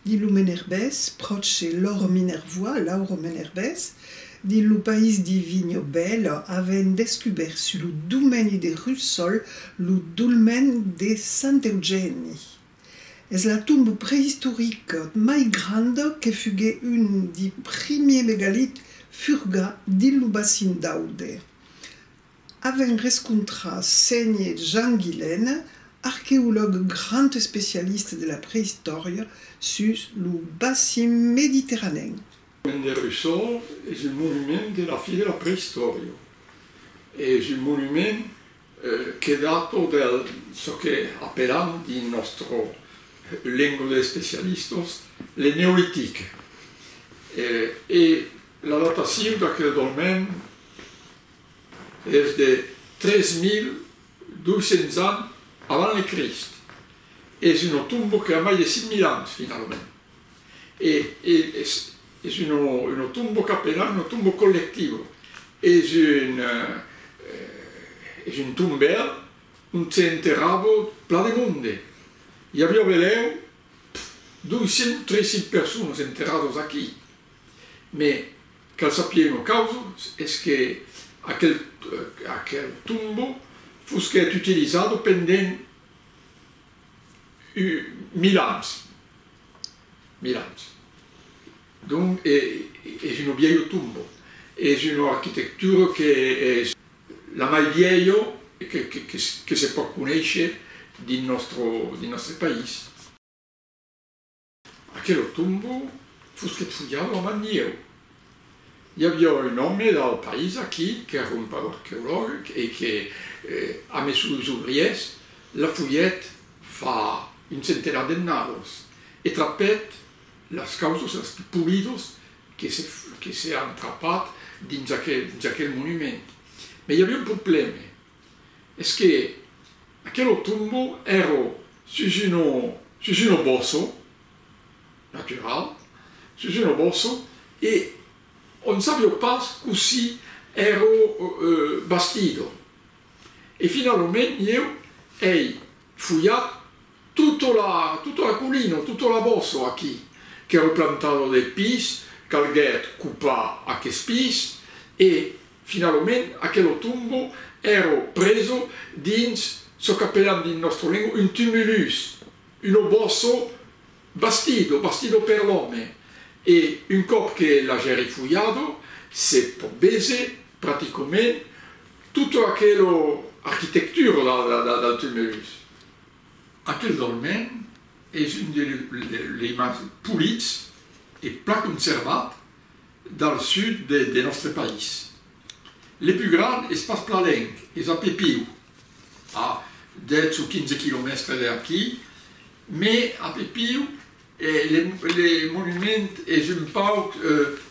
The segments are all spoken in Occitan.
Dins lo Menerbés, pròche lor Minervois, Lauro Menerbés, dins lo país di Vigno Bello, avèn descubèrt sus lo domeni de Russol lo dolmen de Sant Eugèni. Es la tomba preistorica mai granda que fuguèt un di primier megalits furgats dins lo bacin d'Aude. Avèm rescontrat Ségne Jean Guilène, arqueològ grand especialista de la preïstòria sus lo bassin mediterranèn. Pont de Russol es un monument de la fi de la preïstòria. Es un monument que dato del çò que apelam dins nòstra lenga d'especialistas le Neolitic. E la datacion d'aquel dolmen es de 3200 ans avant le Crist, es una tomba que a mai de 5000 ans finalament, e es es una tomba qu'a penas una tomba collectiva, es un es un tombèl ont se enterrava plan de monde, i aviá velèu 200 o 300 personas enterradas aquí. Me, cal sapir una causa, es que aquel aquel tombo fusquèt utilizado pendent u mil ans, mil ans. Donc e es un vièlho tombo, es una arquitectura que es la mai vièlho que que que que se pòt conéisher dins nòstro dins nòstre país. Aquelo tombo fusquet fulhado amb anieu. I aviá un òme dal país aquí qu'èra un paur arqueològ e que, a mes sus obriers, la fulhèt fa un centenat d'ennados e trapèt las causas las pus polidos que se an trapat dins aquel monument. Mès i aviá un problème. Es que aquelo tombo ero sus uno, sus uno bosso, natural, sus uno bosso, e on sabio pas cossí ero bastido. E finalomènt ieu ei fulhat tutto la, tutto l'aculino, tutto l'abosso aquí, qu'ero plantado de pis, calguèt copar aqueth pis e Finalament, aquelo tombo èro preso dins çò qu'apèlan dins nòstra lengua un tumulus, un obòsso bastido, bastido per l'òme, e un còp que l'agèri fulhado, se pòt béser practicament tota aquela arquitectura del tumulus. Actualament es un de lei mens polits e plan conservat. del sud de nòstre país. Le pus grand es pas Plalenc, es a Pepiu, a 10 o 15 quilomèstre de aquí, me a Pepiu le monument es un pauc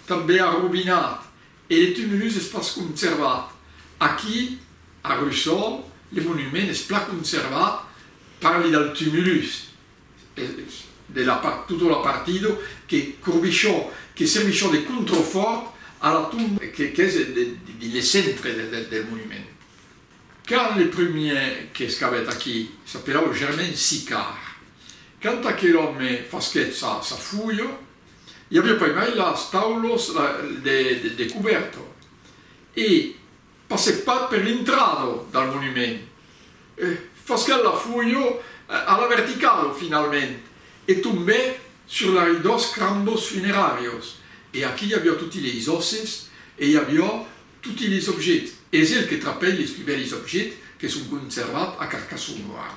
tanben arrobinat e le tumulus es pas conservat. Aquí, a Russol, le monument es plan conservat, parli del tumulus, de la part tutto la partido que corbichò que servichò de controfòrt a la tomba qu'es dins le centre del monument. Quand le premier qu'escavèt aquí s'apelava Germain Sicard. Quand aquel òme fasquèt sa fulha i aviá pas mai las taulos de cubèrta e Passèc pas per l'intrada del monument. Fasquèl la fuja a la verticala finalment e tombèc sur la rei dos crambos funeràrios. E aquí i aviá toti leis òsses e i aviá toti leis objets. Es el que trapèt leis pus bèlis objets que son conservats a Carcassona ara.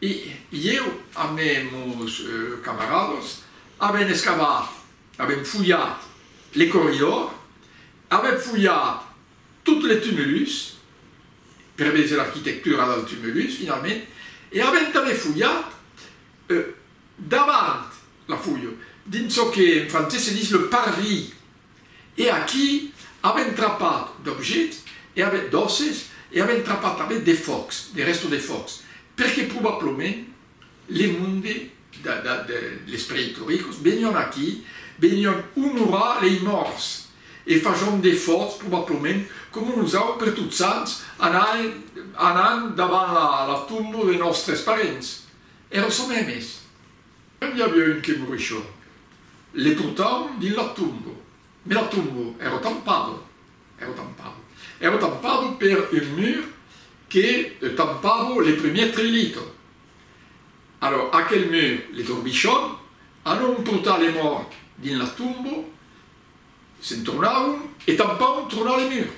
E ieu amb meus camaradas avèm escavat, avèm fulhat le corridor, avèm fulhat tot le tumulus, per veser l'arquitectura del tumulus finalment, e avèm tanben fulhat davant la foiu, dins çò que en francés se ditz le parvis. E aquí avèm trapat d'objets e avèm d'òsses e avèm trapat tanben de fòrcs, de rèstos de fòrcs, perque probablament le monde les preïtoricos venion aquí, venion onorar lei mòrts e facion de fòrcs probablament coma nosau per Totsants anam davant la tomba de nòstres parents e ressonèm es. Qué n'i aviá un que morisha, le portavan dins la tomba, mes la tomba èra tampada, èra tampada, èra tampada per un mur que tampava le premier trelita. Alòr aquel mur le torbichavan, alòr on portava le mòrt dins la tomba, se'n tornavan e tampavan tornar le mur.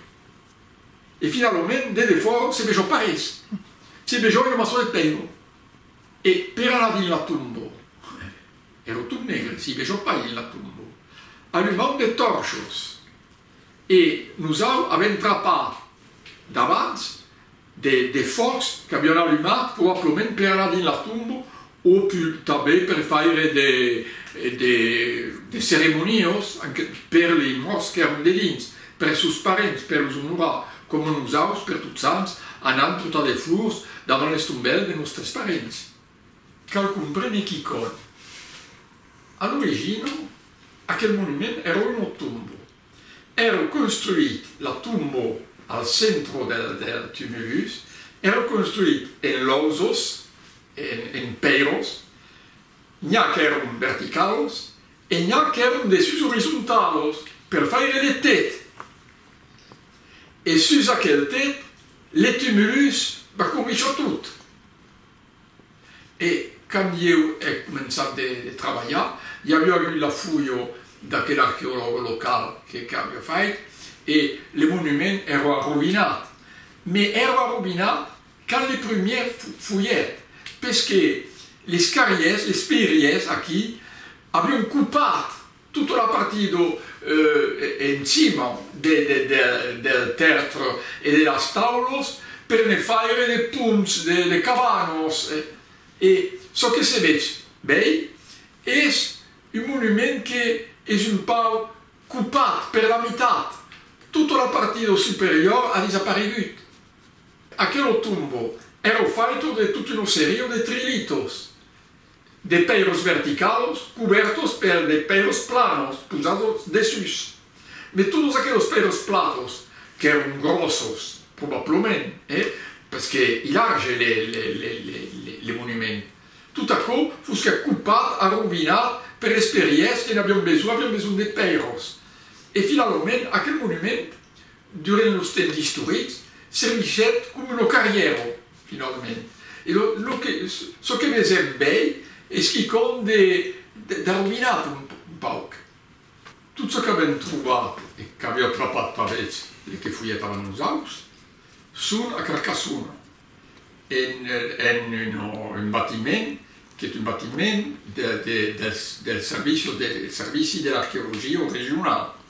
E finalament, de defòra, se vejava pas res, se vejava una maçon de pèira. E per anar dins la tombo, ero tot negre, si vejò pas dins la tombo, alumam de tòrchos e nos au avèm trapat davants de fòcs qu'avián alumat probablament per anar dins la tombo o tanben per faire de ceremoniós per li mòrts qu'èran dedins. Per sos parents, per los onorar, coma nosaus, per Tot Sants, anam trotar de flors davant les tombèls de nòstres parents. Quauqu'un breme quicòt. A l'origina, aquel monument èra una tomba. Èra construït, la tomba, al centre del del tumulus, èra construït en lausas, en en pèiras, N'i-a qu'èron verticaus e n'i-a qu'èron de sus orizontaus per faire de tet. E sus aquel tet, le tumulus va cornichar tot. E quand ieu è començat de trabalhar, i aviá agut la fuio d'aquel arqueològ local que qu'aviá fait e le monument èra arrovinat. Mès èra arrovinat Quand les prumièrs foguèt, pes que les carriers, les pèiries aquí, avion copat tota la partie do en cima del tèrtre e de las taulos per ne faire de ponts, de cabanos e çò que se vech bèi es un monument que es un pauc copat per la mitat, tota la partie do superior a desaparegut. Aquelo tombo èra faito de tota una seria de detrilitos, de pèiros verticalos cubèrtos per de pèiros planos posados dessús de totes aqueles pèiros planos qu'èran gròssos, probablament, eh? Pes que i large le monument. Tot aquò fosque acupat, arrovinat per esperièrs que n'avián besonh, avián besonh de pèiros. E finalament aquel monument Durant los temps istorics, servichèt coma lo carrièro, finalament. E lo, lo que, çò que vesèm bèi es quicòm de, d'arrovinat un, un pauc. Tot çò qu'avèm trobat, e qu'aviá trapat pas vètz le que foguèt avant nosaus, son a Carcassona, en, en un, un batiment, qu'es un batiment de, de, dels, dels servichos de, servici de l'arqueologia regional.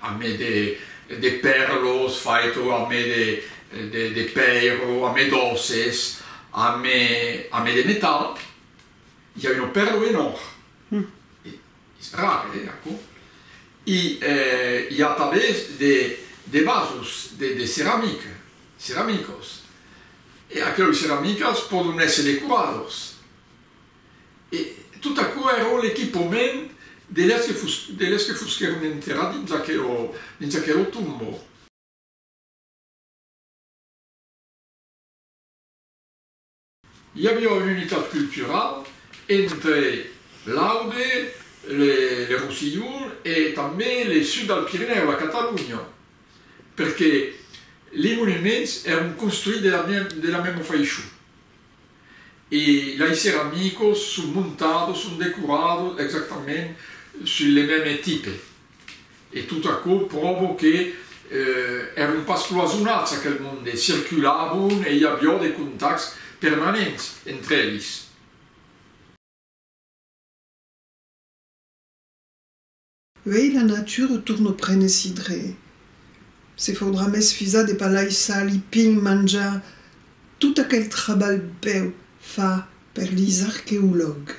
amé de pèrlos faito amé de pèiro, amé d'òsses, amé de metal, i a un pèrlo en òr, es rar eh aquò, i i a tanben de vasos de ceramica, ceramicos, e aqueus ceramicas pòdon èsser decorados. E tot aquò èra l'equipament de lèrs que fosquèron enterrats dins aquela tomba. I aviá una unitat culturala entre l'Aude, le Rossillon e tanben le sud del Pirinèu, la Catalonha, perque li monuments èron construits de la mèma faishon. E laissèr amicos son montados, son decorados exactament sul le mème tipe. E tot aquò pròvo que èron pas cloisonats aquel monde, circulavon e i avió de contacts permanents entre elis. Uèi la nature torn au prenesi dre se fodra mès fisa de palai sali pin manjar tot aquel trabalh bèu fa per lis arqueològ.